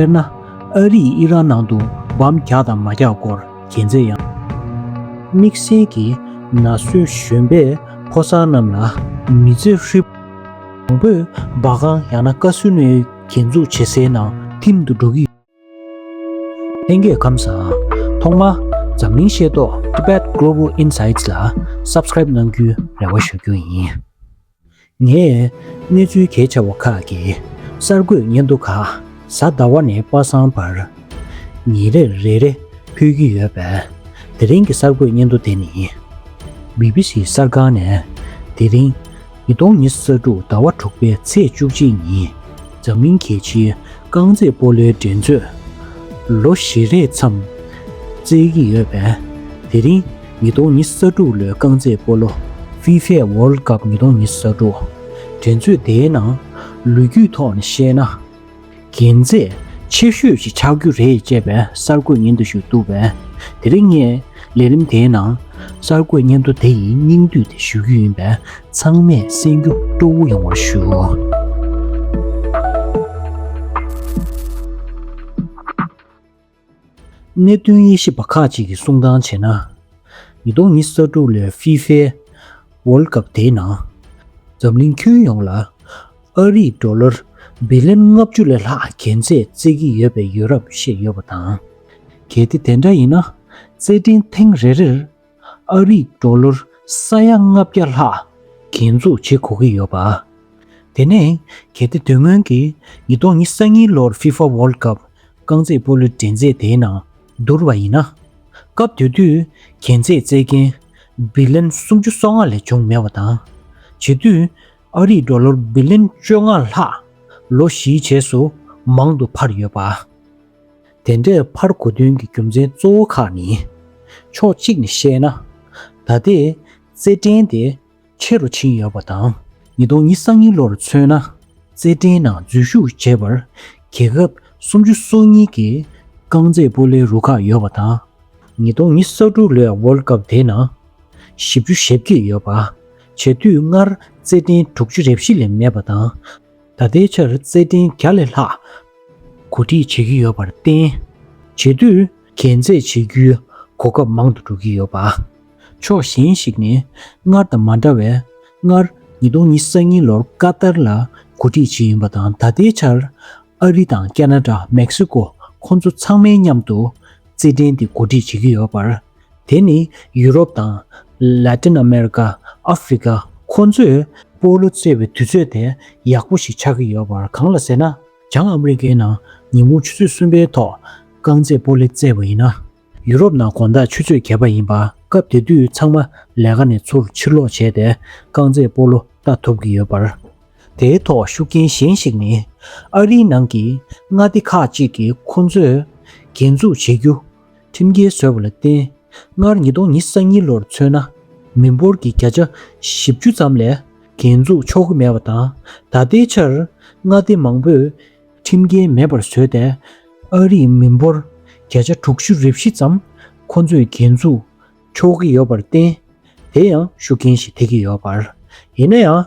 དཔེར་ན། ཨ་རིས་ཨི་རག་ནང་དུ་འབམ་རྒྱག་དང་མ་རྒྱག་སྐོར་རྒྱལ་མཚན་ཡང། དམིགས་བསལ་གྱིས་ན་གསོལ་གཞོན་པས་ཕོ་གསར་རྣམས་ལ་མི་ཚེ་ཧྲིལ། མང་པོས་སྦག་ཁང་ཡང་ན་བཀའ་ཟུར་ནས་རྒྱན་འཛུགས་བྱེད་སའི་ནང་ཐིམ་དུ་འགྲོ་གི་ཡོད། ལྷན་རྒྱས་ཁམས་བཟང། ཐོག་མར་འཛམ་གླིང་ཤེས་རྟོགས Tibet Global Insights ལ Subscribe གནང་རྒྱུའི་རེ་བ་ཞུ་རྒྱུ་ཡིན། ངས་གནས་ཚུལ་གལ་ཆེ་བ་ཁག་གི་གསར་འགོད་སྙན་ཐོ་ཁག་གཟའ་ཟླ་བ་ནས་པ་སངས་བར་ཉིན་རེར་རེ་རེ་ཕུལ་གྱི་ཡོད་པས་དེ་རིང་གི་གསར་འགོད་སྙན་ཐོ་དེ་ནི། བྷི་བྷི་སི་གསར་ཁང་ནས་དེ་རིང་ཉིས་སྟོང་ཉི་ས་དྲུག་ཟླ་བ་དྲུག་པའི་ཚེས་བཅུ་གཅིག་ཉིན། འཛམ་གླིང་གལ་ཆེའི་རྐང་རྩེད་སྤོ་ལོའི་འགྲན་རྩོད་ལོ་བཞི་རེ་མཚམས་བཙལ་གྱི་ཡོད་པས། དེ་རིང་ཉིས་སྟོང་ཉི་ས་དྲུག་ལོའི་རྐང་རྩེད་སྤོ་ལོ། FIFA World Cup ཉིས་སྟོང་ཉི་ས་དྲུག། འགྲན་རྩོད་དེའི་ནང་ལོ་རྒྱུས་ཐོག་ནས་བཤད་ན། དགེ་མཚན་ཆེ་ཤོས་ཤིག་ཆགས་རྒྱུ་རེད་ཅེས་པའི་གསར་འགོད་ཉན་དུ་ཞུགས་འདུག་པས། དེ་རིང་ངས། ལས་རིམ་དེའི་ནང་གསར་འགོད་སྙན་ཐོ་དེ་ཡིན་སྙིང་བསྡུས་ཏེ་ཞུ་རྒྱུ་ཡིན་པས་ཚང་མས་གསན་རྒྱུ་སྤྲོ་བོ་ཡོང་བར་ཞུ། གནད་དོན་དབྱེ་ཞིབ་པ་ཁག་ཅིག་གིས་གསུང་སྟངས་བྱས་ན། ཉིས་སྟོང་ཉིས་བརྒྱ་དྲུག་ལོའི་ཧྥི་ཧྥེ World Cup དེའི་ནང་འཛམ་གླིང་ཁྱོན་ཡོངས་ལ། ཨ་རིས་ཏྲོ་ལར་སྦི་ལེན་ལྔ་བཅུ་ལས་ལྷག་གན་རྩད་བརྩེགས་ཀྱི་ཡོད་པའི་ཡོད་རབས་བཤད་ཡོད་པ་དང། གལ་ཏེ་དེ་འདྲ་ཡིན་ན། རྩེད་འགྲན་ཐེངས་རེ་རེར་ཨ་རིས་ཏྲོ་ལར་ས་ཡ་ལྔ་བརྒྱ་ལྷག་གན་འཛུགས་བྱེད་གོ་གི་ཡོད་པ། དེ་ནས་གལ་ཏེ་དོན་དངོས་ཀྱིས་ཉིས་སྟོང་ཉི་ས་གཉིས་ལོར་ཧྥིཧྥ་ཝོལ་ཀབ་རྐང་རྩེད་སྤོ་ལོའི་འགྲན་རྩེད་དེའི་ནང་བསྡུར་བ་ཡིན་ན། སྐབས་དེ་དུས་གན་རྩད་བརྩེགས་མཁན་སྦི་ལེན་སུམ་ཅུ་སོ་ལྔ་ལས་བྱུང་མེད་པ་དང། བྱེད་དུས། ཨ་རིས་འགྲོ་ལོར་སྦི་ལིན་བཅོ་ལྔ་ལྷག་ལོ་བཞིའི་རྗེས་སུ་མང་དུ་འཕར་ཡོད་པ། དེ་འདྲའི་འཕར་གོ་དོན་གྱི་རྒྱུ་མཚན་གཙོ་བོ་ཁག་ནི། ཕྱོགས་གཅིག་ནས་བཤད་ན། ད་ལྟའི་རྩེད་འགྲན་དེ་ཆེ་རུ་ཕྱིན་ཡོད་པ་དང་ཉིས་སྟོང་ཉི་ས་གཉིས་ལོར་མཚོན་ན། རྩེད་འགྲན་ནང་འཛུལ་ཞུགས་བྱས་པར་རྒྱལ་ཁབ་སུམ་ཅུ་སོ་གཉིས་ཀྱི་རྐང་རྩེད་སྤོ་ལའི་རུ་ཁག་ཡོད་པ་དང། ཉིས་སྟོང་ཉི་ས་དྲུག་ལོའི World Cup དེའི་ནང་བཞི་བཅུ་ཞེ་བརྒྱད་ཡོད་པ། བྱེད་དུས་སྔར་རྩེ་གདན་དྲུག་ཅུ་རེ་བཞི་ལས་མེད་པ་དང། ད་ལྟའི་ཆར་རྩེ་གདན་བརྒྱ་ལས་ལྷག། གོ་སྒྲིག་བྱེད་ཀྱི་ཡོད་པར་བརྟེན། བྱེད་དུས་གན་རྩེད་བྱེད་རྒྱུའི་གོ་སྐབས་མང་དུ་འགྲོ་གི་ཡོད་པ། ཕྱོགས་གཞན་ཞིག་ནས་སྔར་དང་མ་འདྲ་བས་སྔར་ཉིས་སྟོང་ཉི་ས་གཉིས་ལོར་ཀ་ཏར་ལ་གོ་སྒྲིག་བྱེད་ཡིན་པ་དང་ད་ལྟའི་ཆར་ཨ་རི་དང་ཀ་ན་ཀྲ་མེག་སི་ཀོ་ཁོང་ཚོ་ཚང་མའི་མཉམ་དུ་རྩེ་གདན་འདི་གོ་སྒྲིག་བྱེད་ཀྱི་ཡོད་པར་དེ་ནི་ཡུ་རོབ་དང། Latin America། Africa། ཁོ་ཚོས་སྤོ་ལོ་རྩེ་བའི་དུས་ཚོད་དེ་ཡག་པོ་ཞིག་ཆགས་ཀྱི་ཡོད་པར་གང་ལ་ཟེར་ན། བྱང་ཨ་མེ་རི་ཀའི་ནང་ཉིན་གུང་ཆུ་ཚོད་གསུམ་པའི་ཐོག་རྐང་རྩེད་སྤོ་ལེ་རྩེ་བ་ཡིན་ན། ཡུ་རོབ་ནང་དགོང་དག་ཆུ་ཚོད་བརྒྱད་པ་ཡིན་པ་སྐབས་དེ་དུས་ཚང་མ་ལས་ཀ་ནས་ཚུར་ཕྱིར་ལོག་བྱས་ཏེ་རྐང་རྩེད་སྤོ་ལོ་ལྟ་ཐུབ་ཀྱི་ཡོད་པར། དེའི་ཐོག་ཤུགས་རྐྱེན་གཞན་ཞིག་ནི། ཨ་རིའི་ནང་གི་མངའ་སྡེ་ཁག་ཅིག་གིས་ཁོ་ཚོས་རྒྱན་འཛུགས་བྱེད་རྒྱུ་ཁྲིམས་འགལ་བཟོས་པ་ལ་བརྟེན། སྔར་ཉིས་སྟོང་ཉིས་ས་གཉིས་ལོར་མཚོན་ན། མི་འབོར་གྱི་བརྒྱ་ཆ་བཞི་བཅུ་ཙམ་ལས་འགན་འཛུགས་ཆོག་གི་མེད་པ་དང། ད་ལྟའི་ཆར་མངའ་སྡེ་མང་པོས་ཁྲིམས་འགལ་མེད་པར་བཟོས་ཏེ། ཨ་རིའི་མི་འབོར་བརྒྱ་ཆ་དྲུག་ཅུ་རེ་བཞི་ཙམ་ཁོ་ཚོས་འགན་འཛུགས་ཆོག་གི་ཡོད་པར་བརྟེན། དེ་ཡང་ཤུགས་རྐྱེན་ཞིག་ཐེབས་ཀྱི་ཡོད་པར། ཡིན་ན་ཡང།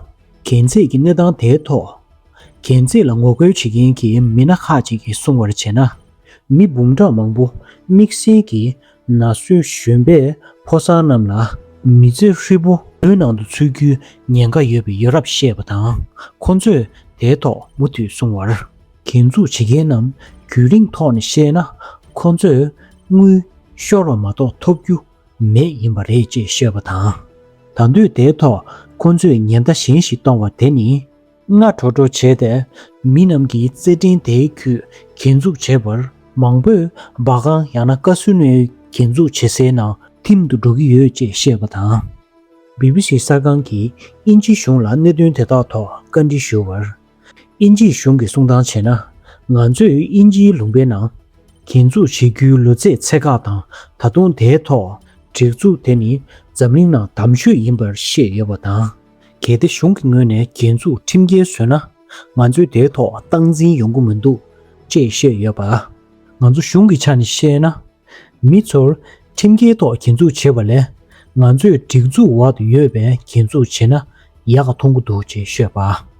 གན་རྩིས་ཀྱི་གནས་སྟངས་དེའི་ཐོག། གན་རྩིས་ལ་ངོ་རྒོལ་བྱེད་མཁན་གྱི་མི་སྣ་ཁག་ཅིག་གིས་གསུང་བར་བྱས་ན། མི་འབུམ་ཕྲག་མང་པོ་དམིགས་བསལ་གྱིས་ན་སོའི་གཞོན་པའི་ཕོ་གསར་རྣམས་ལ། མི་ཚེ་ཧྲིལ་པོ་བོད་ནང་དུ་འཚོལ་རྒྱུའི་ཉེན་ཁ་ཡོད་པའི་ཡོད་རབས་བཤད་པ་དང། ཁོ་ཚོས་དེའི་ཐོག་མུ་མཐུད་གསུང་བར། འགན་འཛུགས་བྱེད་མཁན་རྣམས་རྒྱུན་རིང་ཐོག་ནས་བཤད་ན་ཁོ་ཚོས་དངུལ་ཤོར་བ་མ་གཏོགས་ཐོབ་རྒྱུ་མེད་ཡིན་པ་རེད་ཅེས་བཤད་པ་དང། ད་དུས་དེའི་ཐོག་ཁོ་ཚོས་ཉེན་བརྡ་གཞན་ཞིག་གཏོང་བ་དེ་ནི། སྔ་དྲོ་དྲོ་བྱས་ཏེ་མི་རྣམས་ཀྱིས་རྩེད་འགྲན་དེའི་ཁུལ་འགན་འཛུགས་བྱས་པར་མང་པོས་སྦ་ཁང་ཡང་ན་བཀའ་ཟུར་ནས་འགན་འཛུགས་བྱེད་སའི་ནང་འཐིམ་དུ་འགྲོ་གི་ཡོད་ཅེས་བཤད་པ་དང། BBC གསར་ཁང་གིས་དབྱིན་ཇི་གཞུང་ལ་གནད་དོན་དེ་དག་ཐོག་བཀའ་འདྲི་ཞུ་བར། དབྱིན་ཇིའི་གཞུང་གིས་གསུང་སྟངས་བྱས་ན། ང་ཚོས་དབྱིན་ཇིའི་ལུང་པའི་ནང། གྱེན་འཛུགས་བྱེད་རྒྱུའི་ལུས་རྩེད་ཚད་བཀག་དང་ད་དུང་དེའི་ཐོག་སྒྲིག་འཛུགས་དེ་ནི་འཛམ་གླིང་ནང་དམ་ཆོས་ཡིན་པར་བཤད་ཡོད་པ་དང། གལ་ཏེ་གཞུང་གི་ངོས་ནས་གྱེན་འཛུགས་ཁྲིམས་འགལ་བཟོས་ན། ང་ཚོས་དེའི་ཐོག་སྟངས་འཛིན་ཡོང་གི་མི་འདུག་ཅེས་བཤད་ཡོད་པ། ང་ཚོ་གཞུང་གི་ཆ་ནས་བཤད་ན། མི་ཚོར། ཁྲིམས་འགལ་ཐོག་གྱེན་འཛུགས་བྱེད་པ་ལས། ང་ཚོས་སྒྲིག་འཛུགས་འོག་ཏུ་ཡོད་པའི་གྱེན་འཛུགས་བྱེད་ན་ཡག་ག་མཐོང་གི་འདུག་ཅེས་ཤོད་པ།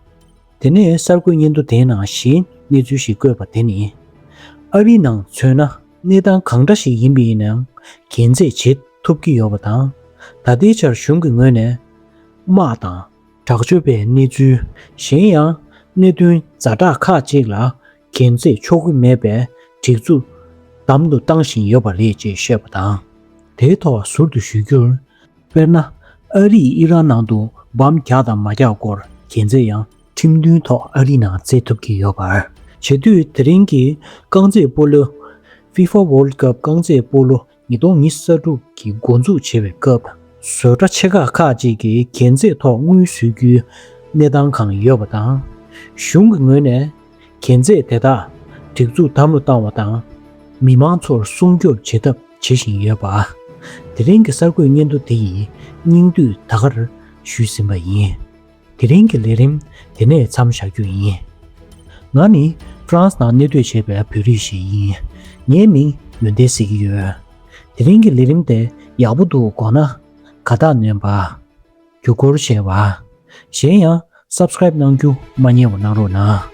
དེ་ནས་གསར་འགོད་སྙན་ཐོ་དེའི་ནང་གཞན་གནས་ཚུལ་ཞིག་བཀོད་པ་དེ་ནི། ཨ་རིའི་ནང་མཚོན་ན་གནས་སྟངས་གང་འདྲ་ཞིག་ཡིན་པའི་ནང་གྱེན་འཛེགས་བྱེད་ཐུབ་ཀྱི་ཡོད་པ་དང། ད་ལྟའི་ཆར་གཞུང་གི་ངོས་ནས་དམག་དང། དྲག་སྤྱོད་པའི་གནས་ཚུལ། གཞན་ཡང་གནད་དོན་རྫ་དྲག་ཁག་ཅིག་ལ་གན་རྩེད་ཆོག་གི་མེད་པའི་སྒྲིག་འཛུགས་དམ་དུ་བཏང་བཞིན་ཡོད་པ་རེད་ཅེས་བཤད་པ་དང། དེའི་ཐོག་ཟུར་དུ་ཞུ་རྒྱུར། དཔེར་ན། ཨ་རིས་ཨི་རན་ནང་དུ་འབམ་རྒྱག་དང་མ་རྒྱག་སྐོར་གན་རྩེད་ཡང་ཁྲིམས་མཐུན་ཐོག་ཨ་རི་ནང་རྩེད་ཐུབ་ཀྱི་ཡོད་པར། བྱེད་དུས་དེ་རིང་གི་རྐང་རྩེད་སྤོ་ལོ། FIFA World Cup རྐང་རྩེད་སྤོ་ལོ་ཉིས་སྟོང་ཉི་ས་དྲུག་གི་མགོ་འཛུགས་བྱེད་པའི་སྐབས་བཟོས་གྲྭ་ཆེ་ཁག་ཁག་ཅིག་གི་རྒྱན་རྩེད་ཐོག་དངུལ་བཟོས་རྒྱུའི་གནས་སྟངས་གང་ཡོད་པ་དང། གཞུང་གི་ངོས་ནས་རྒྱན་རྩེད་དེ་དག་སྒྲིག་འཛུགས་དམ་བློ་བཏང་བ་དང། མི་དམངས་ཚོར་སྲུང་སྐྱོབ་བྱེད་ཐབས་བྱེད་བཞིན་ཡོད་པ། དེ་རིང་གི་གསར་འགོད་སྙན་ཐོ་འདི་ཡི་སྙིང་བསྡུས་ད་གར་ཞུས་ཟིན་པ་ཡིན། དེ་རིང་གི་ལས་རིམ་དེ་ནས་མཚམས་བཞག་རྒྱུ་ཡིན། ང་ནི France ནང་གནས་སྡོད་བྱེད་པའི་བོད་རིགས་ཤིག་ཡིན། ངའི་མིང་ཡོན་ཏན་ཟེར་གྱི་ཡོད། དེ་རིང་གི་ལས་རིམ་དེ་ཡག་པོ་འདུག་དགོངས་ན། དགའ་རྟགས་ནོན་པ། རྒྱུ་སྐོར་བཤད་པ། གཞན་ཡང Subscribe གནང་རྒྱུ་མ་ཉེས་བ་གནང་རོགས་གནང།